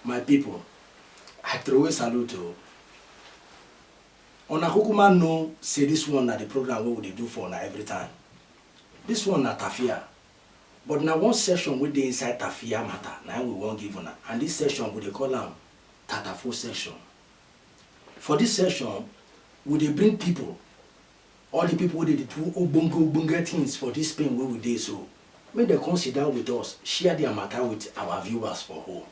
My people, I throw a salute to you. una kukuma know say this one na the program wey we dey do for una every time this one na tafia But na one section wey dey inside Tafia mata na im we wan give una and dis section we dey call am Tatafo section. For dis section, we dey bring pipu, all di pipu wey dey do ogbonge ogbonge tins for dis Spain wey we dey so, make dem come sit down wit us, share dia mata wit our viewers for home,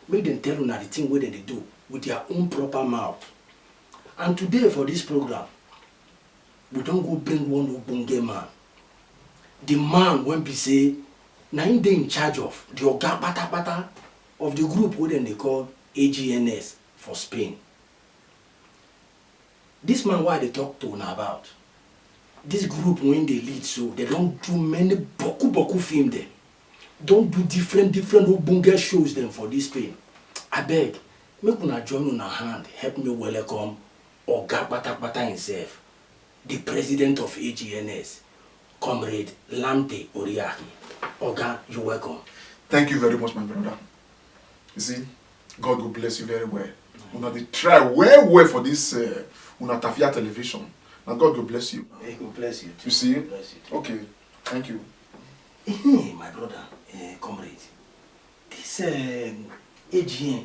make dem tell una di tin wey dem dey do wit dia own proper mouth. And today for dis programme, we don go bring one ogbonge man the man wey be say na him dey in charge of the oga patapata of the group wey dem dey call agns for spain this man wey i dey talk to na about this group wey dey lead so dem don do many boku boku film dem don do different different ogbonge shows dem for this spain abeg make una join una hand help me welcome Oga kpatakpata himself, di president of AGNS, Comrade Lamte Oriahi. Oga, you welcome. Thank you very much my brother. You see, God go bless you very well. Una dey try well well for this uh, una tafia television. Na God go bless you. He go bless you too. You see? Bless you too. Okay, thank you. Hey, my brother, uh, comrade, this um, AGN,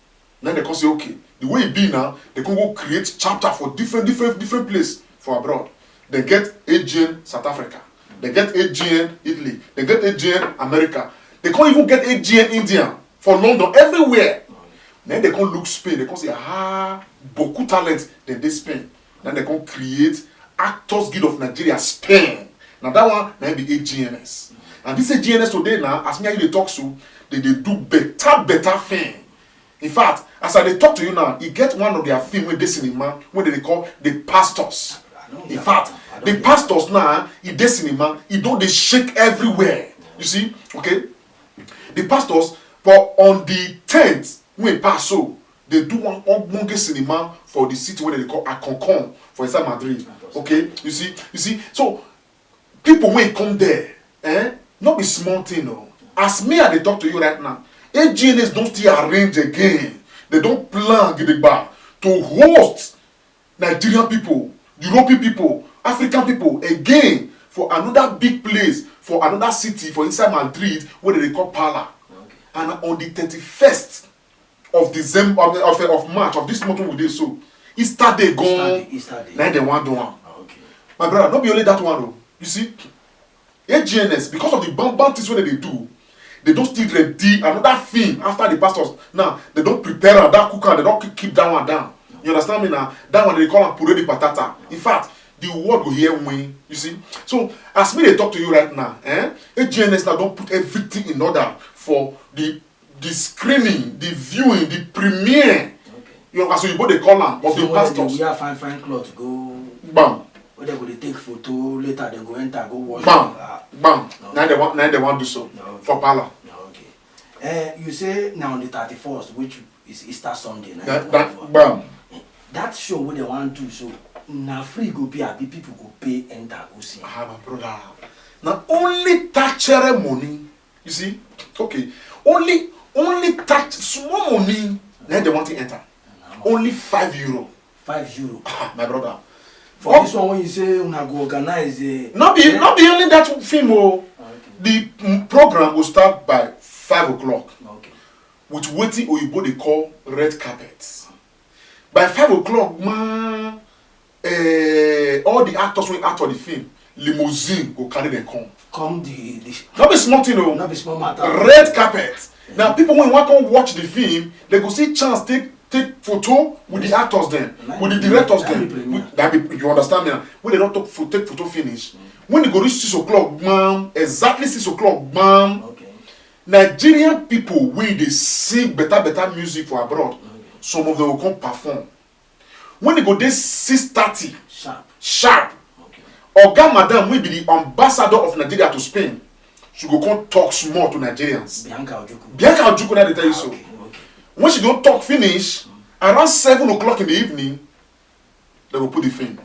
na dem come say okay the way e be now dem come go create chapter for different different different place for abroad dem get agn south africa dem get agn italy dem get agn america dem come even get agn india for london everywhere na dem come look spain dem come say ah boku talent dem dey spain Na dem come create Actors Guild of Nigeria, Spain. Na that one na be AGNS. And this AGNS today na, as me and you dey talk so, they dey do better better film. In fact, as I dey talk to you now, e get one of their film wey dey cinema wey dem dey call The Pastors. In fact, The Pastors now, e dey cinema, e don dey shake everywhere. You see, okay? The Pastors for on the tenth wey pass so, dey do one ogbonge cinema for di city wey dem dey call Alconcon for inside Madrid okay you see you see so pipo wey come there eh no be small thing o as me I dey talk to you right now AGNS don still arrange again dem don plan gidigba to host Nigerian pipo European pipo African pipo again for anoda big place for anoda city for inside Madrid wey dem dey call Parla and on di thirty first. of december of of, of march of this month wey we dey so easter day gan Easter day, Easter day. na im dem wan do am Ah, okay. my brother no be only that one o you see agns because of the bad bad things wey dem dey do they don still ready another film after the pastors now they don prepare am that cook am they don keep keep that one down you understand me na that one they dey call am puree the patata in fact the world go hear win you see so as me dey talk to you right now eh agns now don put everything in order for the the screening the viewing the premiere okay. you know as oyibo dey call am of so the pastors. so when dem dey wear fine fine cloth go. gbam. wey dem go dey take photo later dem go enter go wash. gbam ah. gbam no. na dem wan na dem wan do so no, okay. for parlour. No, okay. Uh, you say na on the thirty-first which is easter sunday na. that that gbam. that show wey dem wan do so na free go be abi people go pay enter go see. ah my brother na only tachere money you see okay only only that small money na dem wan take enter only five euro five euro ah, my brother for oh. this one when you say una go organize eh no be no be only that film o oh. ah, the mm, program go start by five o'clock okay. with wetin oyibo dey call red carpet by five o'clock man uh, all the actors wey act for the film limousine go carry them come. come the the. no be small thing o. Oh. no be small matter. red carpet na people wey wan come watch the film they go see chance take take photo with the actors dem with the directors dem that be you understand me na when they don take photo finish mm. when e go reach six o'clock gbam exactly six o'clock gbam okay. nigerian people wey dey sing better better music for abroad mm. some of them go come perform when e go dey six thirty sharp sharp okay oga madam wey be di ambassador of nigeria to spain she go come talk small to nigerians bianca ojukwu bianca ojukwu na dey tell you so okay okay when she don talk finish around seven o'clock in the evening dem go put the film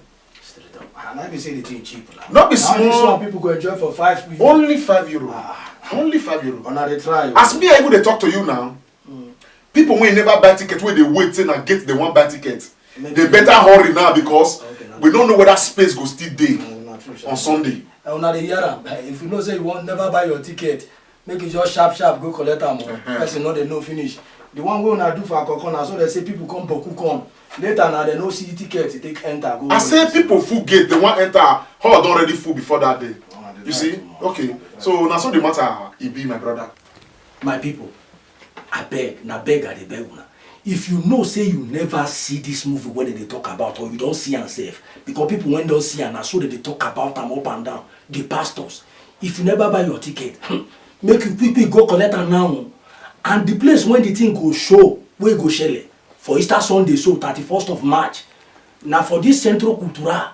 straight up ah na be say the thing cheap na no be Now this small one people go enjoy for five minutes. only five euro Ah. only five euro Una dey try o. as me i even dey talk to you now Mm. People wey never buy ticket wey dey wait say na gate dem wan buy ticket. Maybe they better hurry now because okay, we don't know whether space go still dey no, true, on Sunday. Eh, una dey hear am. Eh, if you know say you wan never buy your ticket, make you just sharp sharp go collect am. Oh. Uh-huh. Person no dey know finish. The one wey una do for Akoko na so they say people come boku come later na dem no see ticket to take enter go. i say people full gate dem wan enter hall don already full before that day you see okay so na so the matter e be my brother. My people, abeg, na beg I dey beg una. If you know say you never see this movie wey dem dey talk about or you don see am sef, because people wey don see am na so dem dey talk about am up and down, the pastors. If you never buy your ticket, hmm, make you quick quick go collect am now o. And the place wey the thing go show, wey e go shele for Easter Sunday so, thirty first of March, na for this Centro Cultural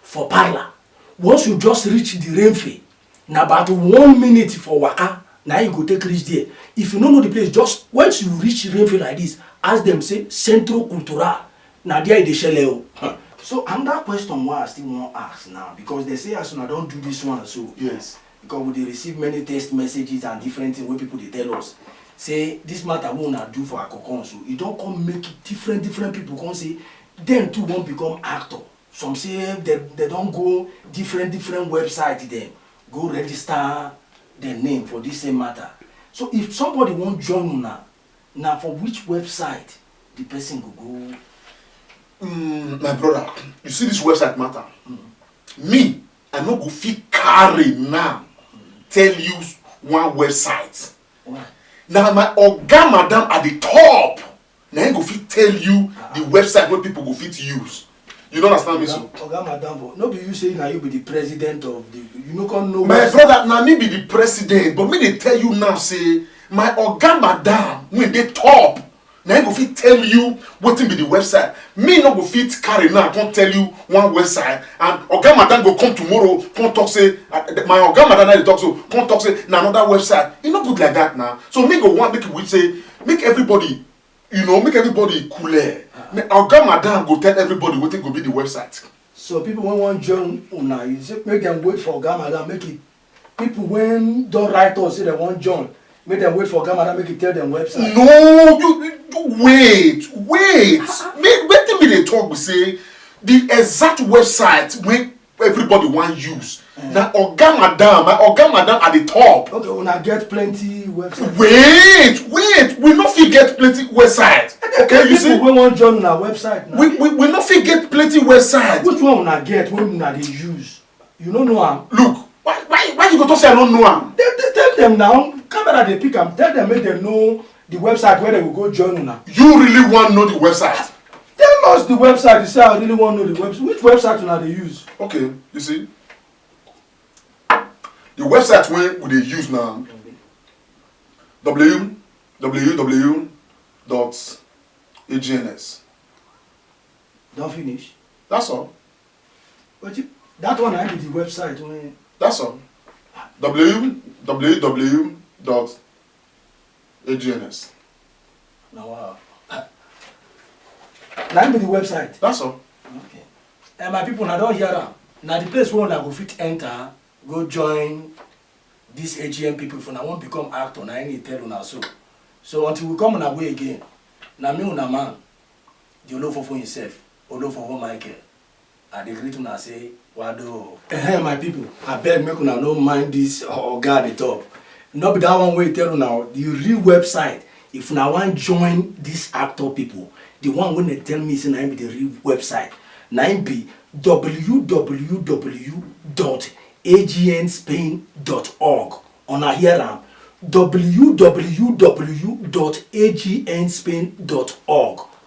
for Parla. Once you just reach the Renfe, na about one minute for waka na you go take reach there if you no know the place just once you reach rainfield like this ask them say centro cultural na there e dey shele o. so another question wey i still wan ask now because they say as una don do this one so yes because we dey receive many text messages and different things wey people dey tell us say this matter wey una do for akokon so e don come make different different people come say dem too wan become actor some say dem dem don go different different website dem go register dem name for dis same matter so if somebody wan join una na for which website the person go go. Mm, my brother you see this website matter mm. me i no go fit carry now mm. tell you one website. Why? na my oga madam at the top na him go fit tell you the website wey people go fit use you no understand me so. oga madam but no be you say na you be the president of the you no come know. my brother na me be the president but me dey tell you now say my oga madam wey dey top na him go fit tell you wetin be the website me no go fit carry now come tell you one website and oga madam go come tomorrow come talk say uh, my oga madam na dey talk so come talk say na another website e no good like that na so me go wan make you wait say make everybody you know make everybody cool air make oga madam go tell everybody wetin go be the website. so people wey wan join una you say make dem wait for oga madam make e people wey don write us say dem wan join make dem wait for oga madam make e tell dem website. no you, you wait wait make wetin me dey talk be say the exact website wey everybody wan use eh. na oga madam my oga madam at the top okay una get plenty website wait wait we no fit get plenty website okay you see people wey wan join una website na we we we no fit get plenty website which one una get wey una dey use you no know am look why why why you go talk say i no know am tell tell dem now camera dey pick am tell dem make dem no the website where they will go join una. you really wan know the website. tell us the website you say i really wan know the website which website una dey use. okay you see the website wey we dey use na www dot agns. don finish. that's all. but you, that one na be the website wey. that's all www dot AGNS. Now, wow. Uh, that be the website. That's all. Okay. And my people, I don't hear them. Now the place where I go fit enter, go join these AGM people for now won't become actor, now any tell una so. So until we come on our way again, now me una man, the Olofofo himself, Olofofo Michael. I dey greet una say wado o. Ehem my people, abeg make una no mind this oga at the top. No be that one wey he tell una o, the real website if una wan join this actor people, the one wey dem tell me say na him be the real website na him be www dot agnspain dot org una hear am www dot agnspain dot org